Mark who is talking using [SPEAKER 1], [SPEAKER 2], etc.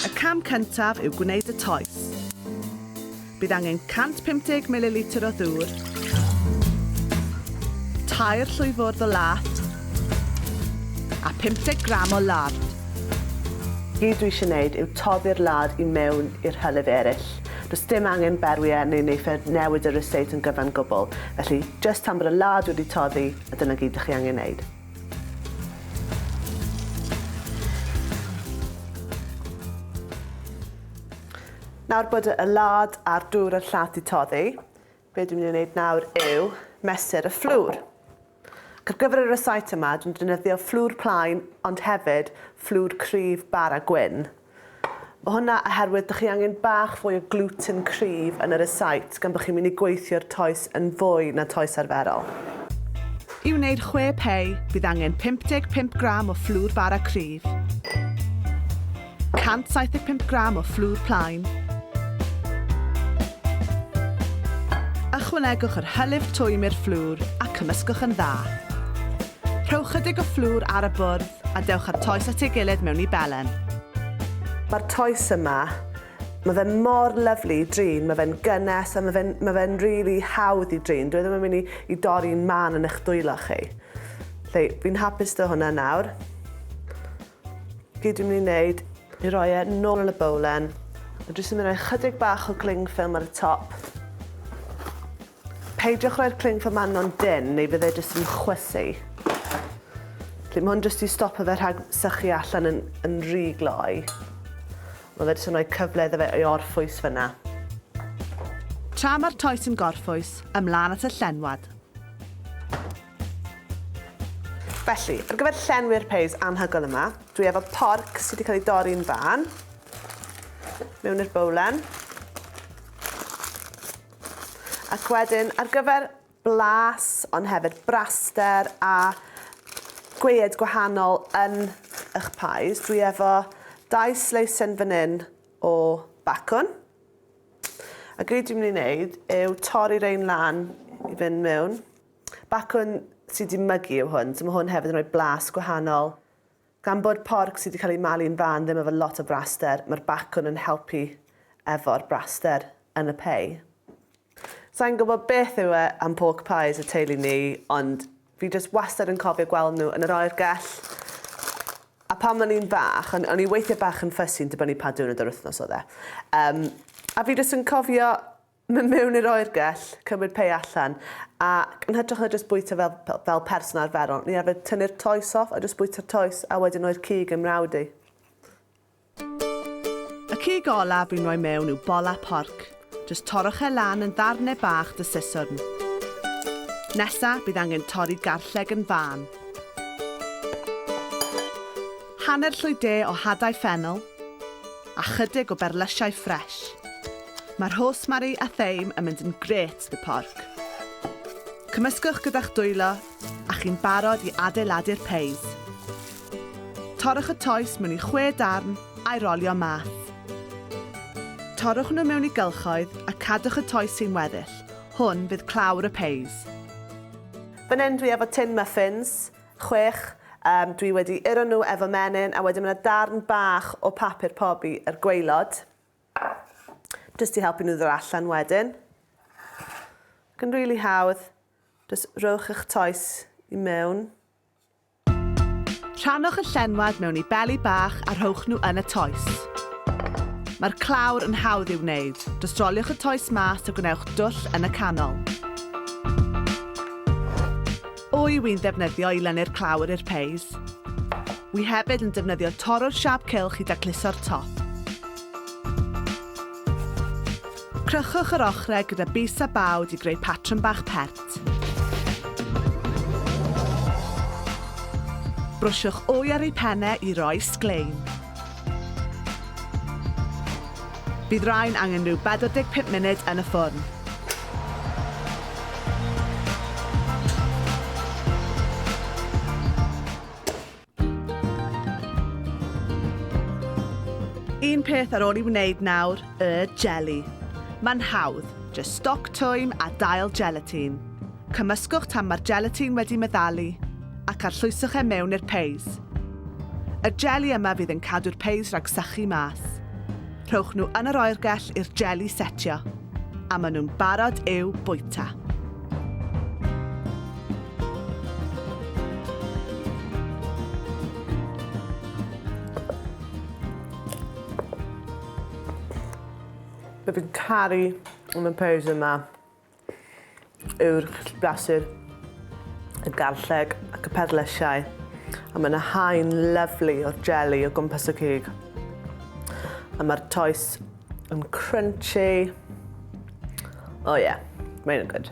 [SPEAKER 1] Y cam cyntaf yw gwneud y toes. Bydd angen 150 ml o ddŵr, tair llwyfwrdd o lath a 50 gram o lard. Be dwi eisiau gwneud yw toddi'r lard i mewn i'r hylif eraill. Does dim angen berwiau neu neiffau newid y ryseit yn gyfan gwbl, felly jyst tan bod y lard wedi toddi, A dyna gyd dych chi angen wneud. Nawr bod y lad a'r dŵr a'r llat i toddi, be dwi'n mynd i wneud nawr yw mesur y fflwr. Ac ar gyfer y recite yma, dwi'n defnyddio fflwr plaen, ond hefyd fflwr cryf bara gwyn. Mae hwnna oherwydd dych chi angen bach fwy o gluten cryf yn yr esait gan bod chi'n mynd i gweithio'r toes yn fwy na toes arferol. I wneud chwe pei, bydd angen 55 gram o fflwr bara cryf, 175 gram o fflwr plaen, Ychwanegwch yr hylif twym i'r fflwr a cymysgwch yn dda. Rhowch chydig o fflwr ar y bwrdd a dewch â'r toes at ei gilydd mewn i belen. Mae'r toes yma, mae fe mor lyfli i drin, mae fe'n gynnes a mae fe'n ma fe really hawdd i drin. Dwi e ddim yn mynd i, i dorri'n man yn eich dwylo chi. Lle, fi'n hapus dy hwnna nawr. Gyd dwi'n mynd i wneud i roi e nôl yn y bowlen. Mae jyst yn mynd i roi chydig bach o gling ffilm ar y top. Peidiwch rhoi'r prin fy manon dynn neu fydd e jyst yn chwysu. Felly mae hwn jyst i stopo fe rhag sychu allan yn, yn rhy gloi. Mae fe jyst yn rhoi cyfle iddo fe i orffwys fyna. Tra mae'r toes yn gorffwys, ymlaen at y llenwad. Felly, ar gyfer llenwi'r peis anhygoel yma, dwi efo porc sydd wedi cael ei dorri'n fan, mewn i'r bowlen. Ac wedyn ar gyfer blas ond hefyd braster a gweued gwahanol yn ych pies dwi efo dau sleisen fan hyn o bacwn a gyd dwi'n mynd i wneud yw torri rein lan i fynd mewn. Bacwn sydd wedi mygu yw hwn so mae hwn hefyd yn rhoi blas gwahanol Gan bod porc sydd wedi cael ei malu'n fân ddim efo lot o braster, mae'r bacwn yn helpu efo'r braster yn y pei. Sa i'n gwybod beth yw e am pork pies y teulu ni, ond fi jyst wastad yn cofio gweld nhw yn yr oergell. A pan o'n i'n fach, o'n, o'n i weithiau bach yn ffysi'n dibynnu pa diwrnod yr wythnos oedd e. Um, a fi jyst yn cofio Mynd mewn i'r oergell, cymryd pei allan, ac yn hytrach na jyst bwyta fel, fel, fel person arferol, ni arfer tynnu'r toes off a jyst bwyta'r toes a wedyn roi'r cig yn mrawd i. Y cig olaf fi'n roi mewn yw bola porc. Jyst torrwch e lan yn ddarne bach dy siswrn. Nesa, bydd angen torri garlleg yn fân. Hanner llwy de o hadau ffennel a chydig o berlysiau ffres. Mae rhosemari a theim yn mynd yn grêt 'da porc. Cymysgwch gyda'ch dwylo a chi'n barod i adeiladu'r peis. Torrwch y toes mewn i chwe darn a'i rolio mas. Torrwch nhw mewn i gylchoedd a cadwch y toes sy'n weddill, hwn fydd clawr y peis. Fan hyn dwi efo tin muffins, chwech, Yym, dwi wedi uro nhw efo menyn, a wedyn ma' 'na darn bach o papur pobi ar gwaelod, jyst i helpu nhw ddod allan wedyn. Ac yn rili hawdd, jyst rhowch eich toes i mewn. Rhannwch y llenwad mewn i beli bach a rhowch nhw yn y toes. Mae'r clawr yn hawdd i'w wneud, jyst roliwch y toes mas a gwnewch dwll yn y canol. Wy wi'n ddefnyddio i lennu'r clawr i'r peis. Wy hefyd yn defnyddio torrwr siâp cylch i dacluso'r top. Crychwch yr ochrau gyda bys a bawd i greu patrwm bach pert. Brwsiwch wy ar ei phenne i roi sglein. Bydd rhain angen rhyw 45 munud yn y ffwrn. Un peth ar ôl i wneud nawr, y jeli. Mae'n hawdd, jyst stoc twym a dail gelatine. Cymysgwch tan mae'r gelatine wedi meddalu ac arllwyswch e mewn i'r peis. Y jeli yma fydd yn cadw'r peis rhag sychu mas. Rhowch nhw yn yr oergell i'r jeli setio, a maen nhw'n barod i'w bwyta. Dw i'n caru yn y peis yma. yw'r gallu brasur, y garlleg ac y perlysiau, a mae yna haen lyflu o'r jelly o gwmpas y cig. A mae'r toes yn crunchy. Oh yeah, mae'n good.